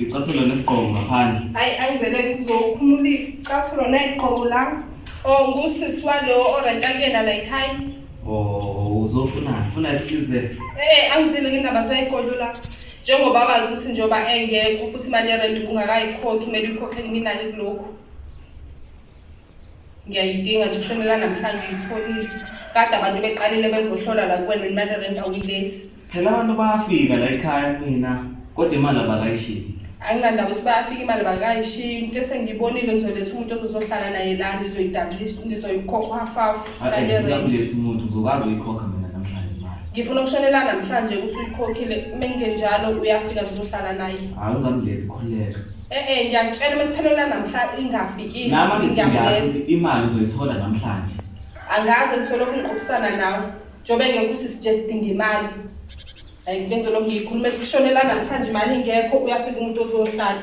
Ngicathulo nesigqoko ngaphandle. Hayi ayizele kuzokhumula icathulo neziqgoko la. Oh ngusisi walo orenta kuyena la ekhaya. Oh uzofuna ufuna kusize. Eh angizile ngendaba zayigodo la. Njengoba bazi ukuthi njengoba engekho futhi imali yerent ungakayikhokhi kumele uyikhokhe mina kulokho. ngiyayidinga nje ishumi lanamhlanje uyitholile kade abantu beqalile bezohlola la kuwena imali rent awuyilesi phela abantu bayafika la ekhaya mina kodwa imali abakayishiyi anginandaba ukuthi bayafika imali bakayishiyi into esengiyibonile ngizoletha umuntu ozozohlala naye la ngizoyidablisa ngizoyikhokha hafafu ngizokuletha umuntu ngizokwazi uyikhokha mina namhlanje imali ngifuna ukushonela namhlanje kusuyikhokhile uma ngenjalo uyafika ngizohlala naye hayi ungamlethi khuleka Eh eh ngiyakutshela uma kuphela lanamhla ingafikile. Nama ngithi Ngiyakubetha. ngiyazi imali uzoyithola namhlanje. Angaze ngisolokhu ngiqophisana nawe. Njobe ngeke usisuggest ngemali. Hayi ngeke ngizolokhu ngiyikhuluma ekushonela namhlanje imali ingekho uyafika umuntu ozohlala.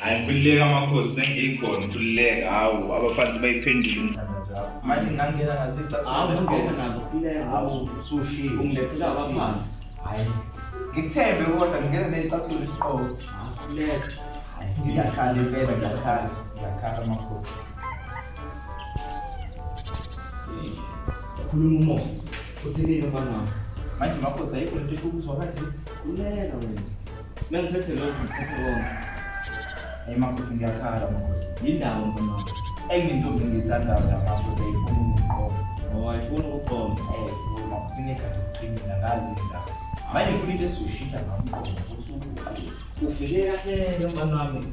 hayi ngikhululeka amakhosi sengiyikhona ngikhululeka hawu abafanzi bayiphendule intsana zakho manje ngangena ngazicasungena nazo khululekaushiye ungilethela abaphansi hayi ngikuthembe kodwa ngingena neyicasulo lesiqobo khululeka ngiyakhala impela ngiyakhala ngiyakhala amakhosi khuluma umoya uthini mfana wami manje makhosi ayikho lento esho ukuzwa kanje khululeka wena Mengiphethe lokhu ngiphethe konke. Hey makhosi ngiyakhala makhosi. Yindaba mfana. Hey ngintombi ngiyithandayo la makhosi ayifuni ukuqoma. Oh ayifuni ukuqoma. Hey ayifuni makhosi ngekhadi lokuqinina ngazi indaba. Manje ngifuna into esushitha ngamqondo futhi ukuqoma. Ufike kahle mfana wami.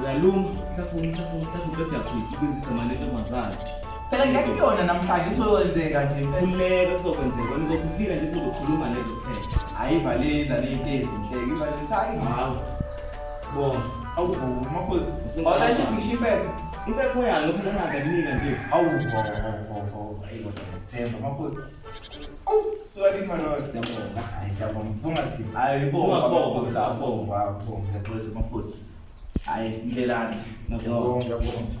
uyalunga hlafuna hlafuna hlafuna uqeda quick ibiza igama lentombazane phela ngeke kuyona namhlanje kuzokwenzeka nje khululeka kuzokwenzeka wena uzothi ufika nje uzokhuluma lento kuphela hayi valeza leyinto ezinhleke ivaleza hayi hawu sibonga awubhoma makhosi awulashe singisho impepho impepho yalo phela ngakanika nje awubhoma awubhoma ayibo themba makhosi Sorry mwana wami siyabonga. Hayi siyabonga. Bunga thi hayi ibonga bonga siyabonga bonga ngexolisa amakhosi. Hayi indlelani. Ngiyabonga ngiyabonga.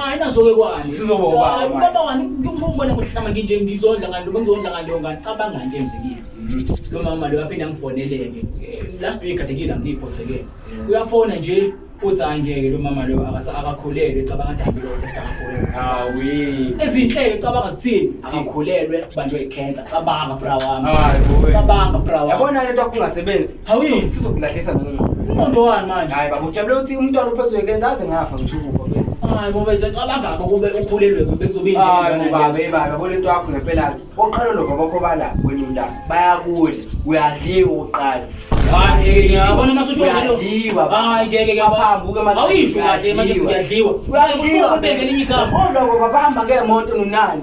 hayi nazoke kwani sizoba ubaba ubaba wani ngimbona kuhlama nginje ngizondla ngani lo ngizondla ngani lo ngacabanga nje nje kimi mhm. lo mama lo yaphinda ngifoneleke last week kade ngila ngiyiphothekele uyafona nje uthi hayi ngeke lo mama lo akakhulelwe cabanga dambi lo thetha akakhulelwe hawi ezinhleke cabanga zithini akakhulelwe bantu ekhensa cabanga bra wami cabanga bra wami yabona lento akungasebenzi Hawuyini sizokulahlisa nalo ngqondo. Umuntu wani manje? Hayi baba ujabule ukuthi umntwana uphethwe kenza aze ngafa ngisho ukufa bese. Hayi bobe ecabanga ngakho kube ukhulelwe kube kuzobe inje. Hayi baba baba bona into yakho ngempela. Oqala lo vaba khobala wena umntana. Bayakudla, uyadliwa uqala. Hayi ngiyabona masusho ngalo. Uyadliwa. Hayi ngeke ngiyaphambuka manje. Awuyisho kahle manje siyadliwa. Uyadliwa kubeke linye igama. Kodwa baba bahamba ngemoto nonani.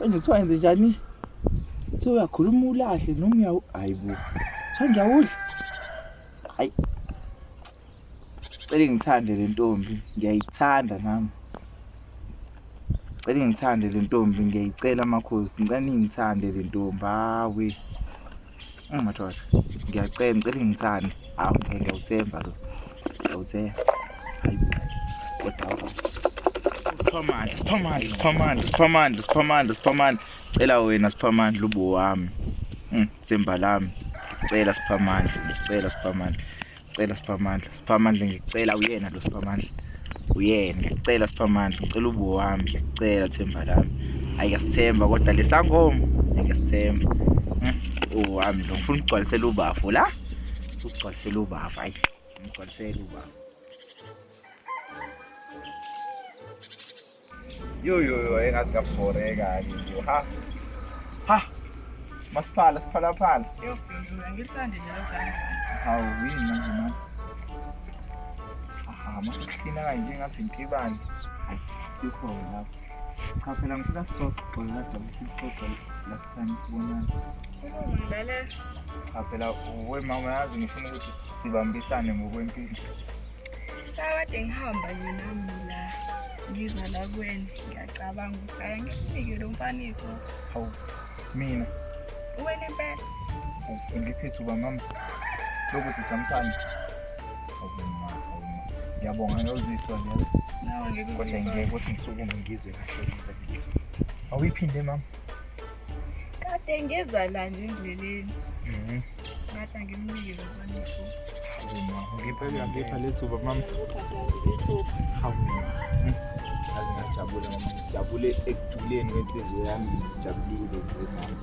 Manje kuthiwa yenze njani? Kuthiwa uyakhuluma ulahle noma uyawu hayi bo. Kuthiwa ngiyawudla. Hayi. Cela ngithande le ntombi, ngiyayithanda nami. Cela ngithande le ntombi, ngiyayicela makhosi. Ngicela ningithande le ntombi. Hawe. Madoda, ngiyacela ngicela ngithane. Hawu ngeke ngiyawuthemba lo. Ngiyawuthemba. Hayi kodwa. Siphamandla, siphamandla, siphamandla, siphamandla, siphamandla, siphamandla. Cela wena siphamandla ubo wami. Hmm, themba lami. Cela siphamandla, cela siphamandla. Cela siphamandla, siphamandla ngicela uyena lo siphamandla. Uyena ngicela siphamandla, ngicela ubo wami, ngicela themba lami. Hayi ngasithemba kodwa lesangoma, ngasithemba. Hmm, Uwami lo ngifuna ukugcwalisela ubafo la. Ukugcwalisela ubafo, hayi. Ngigcwalisela ubafo. Yo yo yo engathi ngabhoreka nje. Ha. Ha. Masiphala siphala phala. Yo yo ngilithande lelo gama. Hawu yini manje manje. Aha masihlina kanje ngathi intibani. Sikho lapho. Cha phela ngifuna sisoxoxe la dobe sixoxe last time sibonana. Ngilale. Cha phela we mama yazi ngifuna ukuthi sibambisane ngokwempilo. kade ngihamba nje nami la ngiza la kwena ngiyacabanga ukuthi ayi ngikunike lo mfana itho hawu mina wena impela ngiphethe uba mama lokuthi samsane ngiyabonga ngiyoziswa kodwa ngeke ukuthi ngisukume ngizwe kahle awuyiphinde mama Kade ngeza la nje endleleni. Mhm. Ngathi angimnike lo mfowethu. Ngipha ngipha lethuba mama. Hawu. Hmm. Azi ngajabule mama ngijabule ekuduleni kwenhliziyo yami ngijabulile nje mama.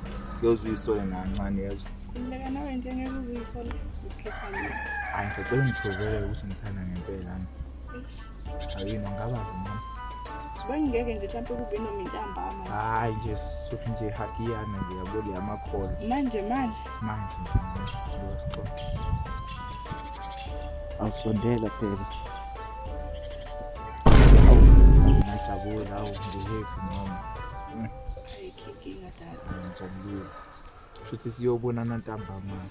Yozwa isole ngancane yezwa. Ngileka nawe nje ngeke uzuyisole ukukhetha mina. Hayi sacela ngithokozele ukuthi ngithanda ngempela. Ayini angabazi mama. Bangeke nje mhlawumbe kube noma intambama. Hayi nje sothi nje hakiyana nje yabo le amakhola. Manje manje. Manje nje manje. Ngiyasixoxa. Awusondela phela. Awungajabula awungihephi mama. Ayikho inkinga dala. Ngijabulile. shuthi siyobonana ntambama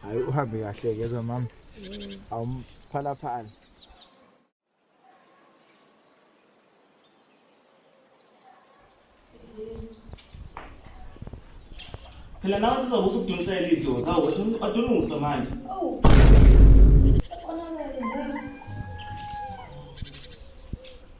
hayi uhambe kahle kezwa mama awumphalaphala phela nawe sizobe usukudonsela izwe zawo adunusa manje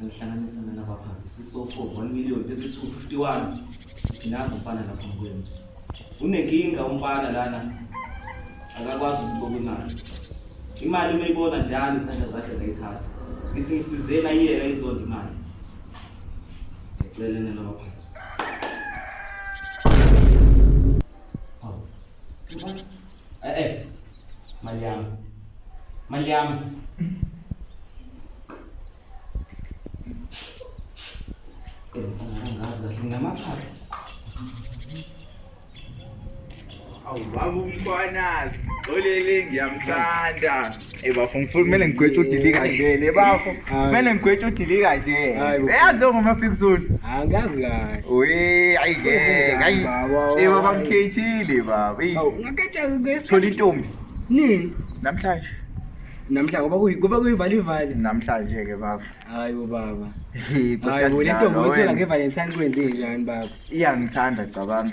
alihlanganisa nalabaphansi 604 1 million 3251 thinazi umfana lapha mkwenu unenkinga umfana lana akakwazi ukuqoka imali imali uma ibona njalo izandla zakhe zayithatha ngithi ngisizeni ayiyeka izonda imali ngicele nalabaphansi Eh eh. Mali yami. Mali yami. Eh, ngazi kahle nginamathathu. Awu baba umkhwanazi, olele ngiyamthanda. Hey bafo ngifuna kumele ngigwetshe udilika nje le bafo. Kumele ngigwetshe udilika nje. Eyazi lo ngoma fix zone. Angazi kahle. Uyi ayi ke. Ayi. Eh baba ngikhethile baba. Ngaketsha ngesikhathi. Thola intombi. Nini? Namhlanje. namhla ngoba kuyi kuba kuyivala ivali namhlanje ke baba hayi bo baba hayi bo lento ngoyithola ngevalentine kwenze njani baba iyangithanda cabanga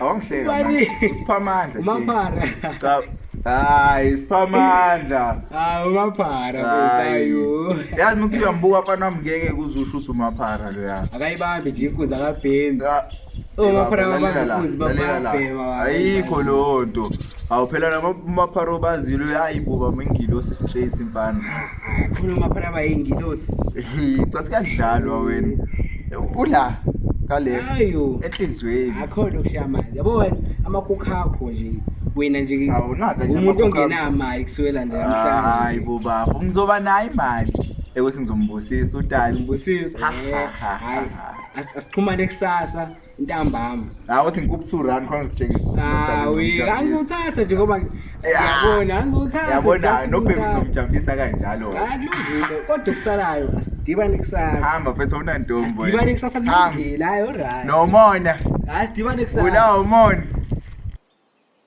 Awangihleka. Ubani? Siphamandla. Umaphara. Cha. Hayi, siphamandla. Hayi umaphara mfethayo. Yazi ukuthi uyambuka mfana wami ngeke kuzusho ukuthi umaphara lo ya. Akayibambi nje inkunzi akabhemi. Umaphara akabambi inkunzi bamabhema. Ayikho lonto. Awu phela lama mapharo bazilo hayi buba mengilosi straight mfana. Khona maphara bayingilosi. Cha sikadlalwa wena. Ula kale Ayo. enhlizweni. Akho lokushaya amanzi. Yabo wena amakhukha akho nje. Wena nje Awunaka nje umuntu amakhukha. ongenamali kusukela nje Hayi namhlanje. bo bafo ngizoba nayo imali. Ekuthi ngizombusisa utali. Ngibusisa. Ha, ha, ha, ha, Hayi. ha. As- Asixhumane kusasa. intambama hawu uthi ngikuphi two rand khona ngitshengisa hawu angizothatha nje ngoba yabona angizothatha yabona nobheki uzomjabulisa kanjalo akulungile kodwa kusalayo asidibane kusasa hamba bese unantombo asidibane kusasa kulungile hayi alright nomona asidibane kusasa ula umona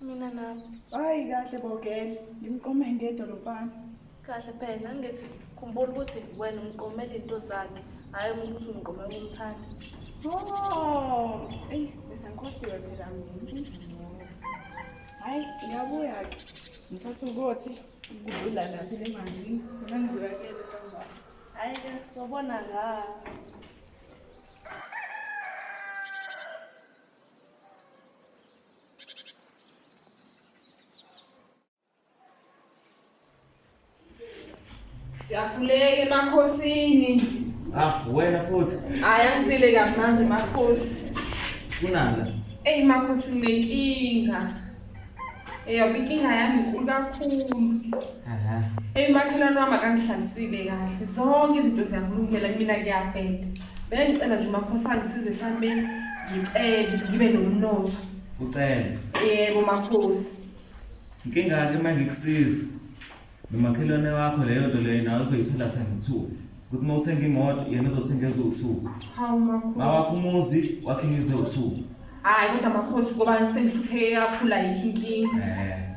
Mina nami. Hayi kahle bogele, ngimqome ngedwa lo mfana. Kahle phela ngithi khumbula ukuthi wena umqomela into zakhe, hayi ukuthi umqomela umthanda. Oh, eyi bese ngikhohliwe phela mina. Hayi ngiyabuya ke. Ngisathi ukuthi kudlula laphi le manzini, mina ngizolakela ntambama. Hayi ke sobona nga. Siyakhuleka emakhosini. Ah, wena futhi. Hayi angizile kabi manje makhosi. Kunani la? Ey makhosi nginenkinga. Eyoba inkinga yami inkulu kakhulu. Aha. Ey makhelwane wami akangihlalisile kahle. Zonke izinto ziyakulungela mina ngiyabheda. Bengicela nje umakhosana ngisize mhlawumbe ngicele ngibe nomnotho. Ucele. Yebo makhosi. Inkinga yakhe uma ngikusiza nomakhelwane wakho leyo nto leyo nawe uzoyithola sengizithuba ukuthi uma uthenga imoto yena uzothenga eziwu-two Hawu makhosi. mawakho umuzi wakhe ngiziwu-two Hayi kodwa makhosi ngoba sengihlupheke kakhulu ayikho inkinga. um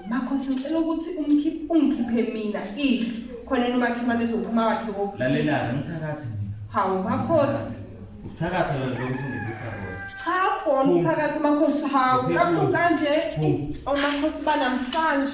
Makhosi ngicela ukuthi umkhiphe ungikhiphe mina if khona nomakhelwane ezophuma wakhe wokuthi lalela ngithakathi mina hawu makhosi uthakatha lona lokho usungidisa kodwa cha khona uthakatha makhosi hawu lapho kanje omakhosi banamhlanje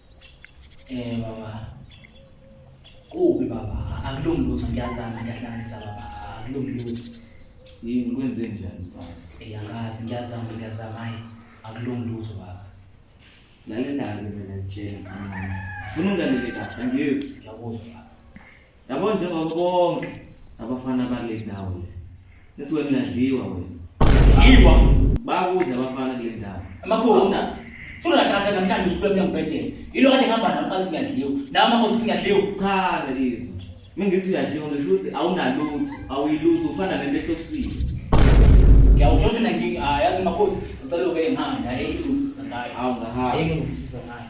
Eh baba. Kubi baba, akulungi lutho ngiyazama ngiyahlanganisa baba, akulungi lutho. Yini kwenze njani baba? Eh angazi ngiyazama ngiyazama hayi, akulungi lutho baba. Lalela-ke mina ngitshela mama. Funa ungalele kahle angizwa. Ngiyakuzwa baba. Yabo njengoba bonke abafana bale ndawo le. Nithi wena uyadliwa wena. Yiwa bakudla abafana kule ndawo. Amakhosi na. Funa kahle namhlanje usuke emnyambhedeni. Yilo kade ngihamba nawe qala singadliwa. Nawe amakhosi singadliwa. Cha lizwe. Mina ngithi uyadliwa ngisho ukuthi awunalutho, awuyilutho ufana nento ehlobisile. Ngiyawusho ukuthi mina ngi ah yazi makhosi ngicela uvele ngihamba hayi ngikusiza ngayo. Awungahamba. Hayi ngikusiza ngayo.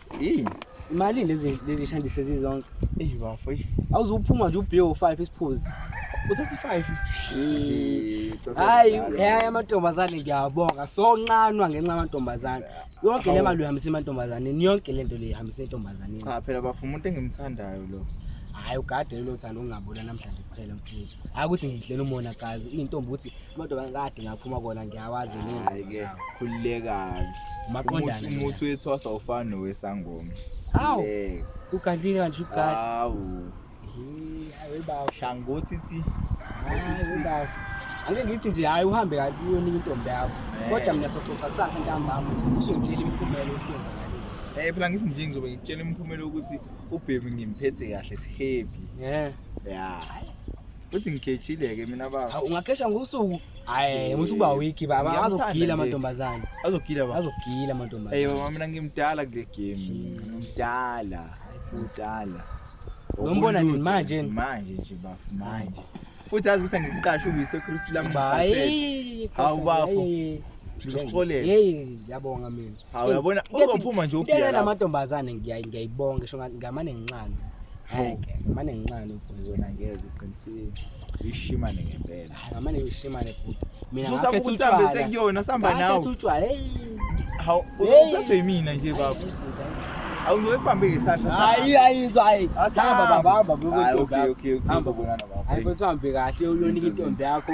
Hey. Imali lezi lezi shandise zizonke. Hey bafo. Awuzuphuma nje ubhiyo 5 isiphuzi. Usethi 5. Hayi, hayi amantombazane ngiyabonga. So nqanwa ngenxa yamantombazane. Yonke le mali uhambisa emantombazaneni, yonke lento le ihambisa entombazaneni. Cha phela bafo umuntu engimthandayo lo. Hayi ugade lo thando ungabona namhlanje kuphela. futhi akuthi ngidlela umona gazi intombi uthi amadodana kade ngaphuma kona ngiyawazi nengqeke khululekani maqondana umuthi wethwasa ufana nowesangoma hawu ugadlile kanje ugadli hawu hayi baba shangothi thi uthi baba ake ngithi nje hayi uhambe kanti uyona intombi yakho eh. kodwa mina soxoxa kusasa ntambama usongitshela imiphumela ukwenza ngale eh phela ngithi nje ngizobe ngikutshela imiphumela ukuthi ubhebi ngimphethe kahle sihappy yeah ya uthi ngigejile-ke mina baba Hawu, ungagesha ngosuku hayi musa ukuba wiki baba Ngiyamthanda azogila nje. amantombazane azogila baba azogila Hey amantombazane baba mina ngimdala kule game ngimdala ngimdala Uyombona nini Ubulutho, manje? manje nje bafu manje futhi azi ukuthi angiqashe uyisekhristu lami ngiphathele. hayi Hawu, bafo. Ngizokuholela. yeyi yabonga mina Hawu yabona uzophuma nje uphila. Ngeke amantombazane ngiyayibonga ngisho ngamane ngincane. Hayi ke mane ngincane mfowethu wena ngeke uqinisile. Uyishimane ngempela. Hayi ngamane uyishimane futhi. Mina ngakhe utshwala. Usambe sekuyona samba nawe. Ngakhe utshwala. Hey. Hawu uzophethwe yimina nje baba. Awuzoke kubambe ngesandla sakho. Hayi hayi hayi. Hamba baba hamba baba. Hayi okay okay. Hamba bona baba. Hayi mfowethu hambe kahle uyonika intombi yakho.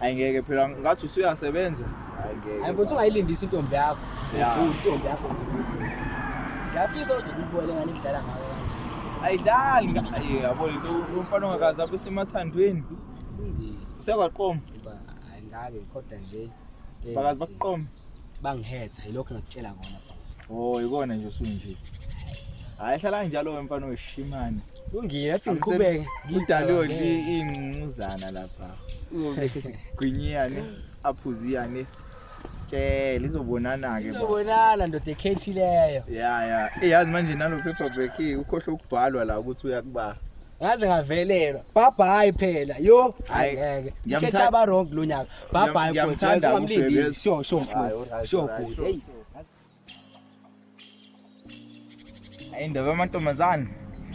Hayi ngeke phela ngathi usuyasebenza. Hayi ngeke. Hayi mfowethu ungayilindisa intombi yakho. Yeah. Intombi yakho. Ngiyafisa ukuthi ngikubone ngani kudlala ngawe kanje. Ayidlali nga- ayi yabo lento umfana ongakazi abe semathandweni. Kulungile. Usekwaqoma. Hayi ngake kodwa nje. Bakazi bakuqoma. bangihetha yilokho ngakutshela kona bhuti oh ikona nje usunje hayi hlala njalo wemfana weshimane kulungile athi ngiqhubeke ngidaliwe nje ingcuzana lapha gwinyane aphuziyane tshela izobonana ke izobonana ndoda ekhethi leyo ya ya eyazi manje nalo paper break ukhohle ukubhalwa la ukuthi uyakuba ngaze ngavelelwa bhabhayi phela yo hayi ngeke ngiyamthanda aba wrong lonyaka bhabhayi ngiyamthanda umlindi sho sho mfowethu sho good hey hayi ndaba amantombazane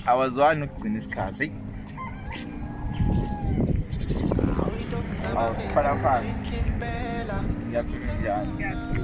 awazwani ukugcina isikhathi hey Awusiphalaphala. Ngiyaphila njalo.